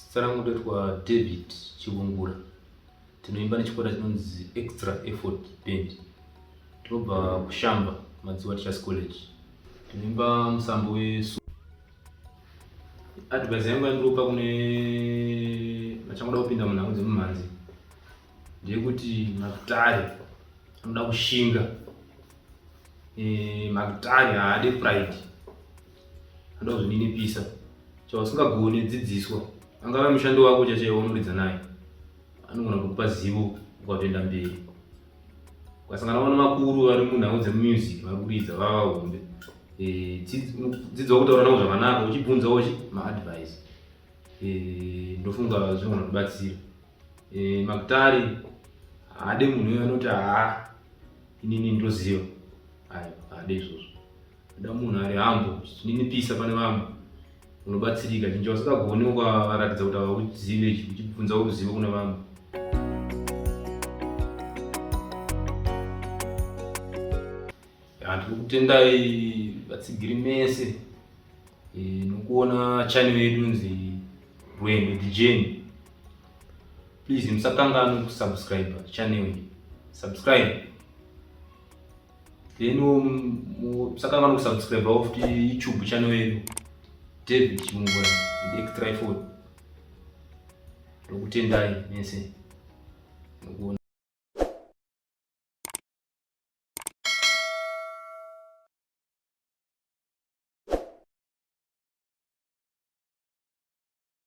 Zita rangu ndoitwa David Chivungura. Tinoimba nechikwata chinonzi Extra Effort Band. Tinobva kuShamba, Madziwa Teachers College. Tinoimba musambo wesu. Advice yangu yandiropa kune vachangoda kupinda munhango dzemumhanzi ndeyekuti makutare anoda kushinga eh, magitari haade pride anoda kuzvininipisa chausingagone dzidziswa angave mushandi wako chachaiwo unoridza naye anogona kukupa zivo ukatoenda mberi ukasangana vana vakuru vari munhau dzemusic vari kuridza vava hombe eh, dzidzo wakutaura navo zvakanaka uchibvunzawo chi maadvice eh, ndofunga zvinogona kubatsira E, eh, makutari haade munhu uyo anoti haa inini ndoziva ayo haade izvozvo ada munhu ari hambo zvininipisa pane vamwe unobatsirika chinji vasingagoni ukavaratidza kuti hauzive uchibvunza uruzivo kuna vamwe tiri kutendai vatsigiri mese e, nokuona chani vedu nzi rwendo dijeni Please musakanganwe kusubscribe channel iyi. Subscribe. Then musakanganwe kusubscribe off to YouTube channel yedu. David Chimungura and Extra Effort. Ndokutendai mese. Ndokutendai.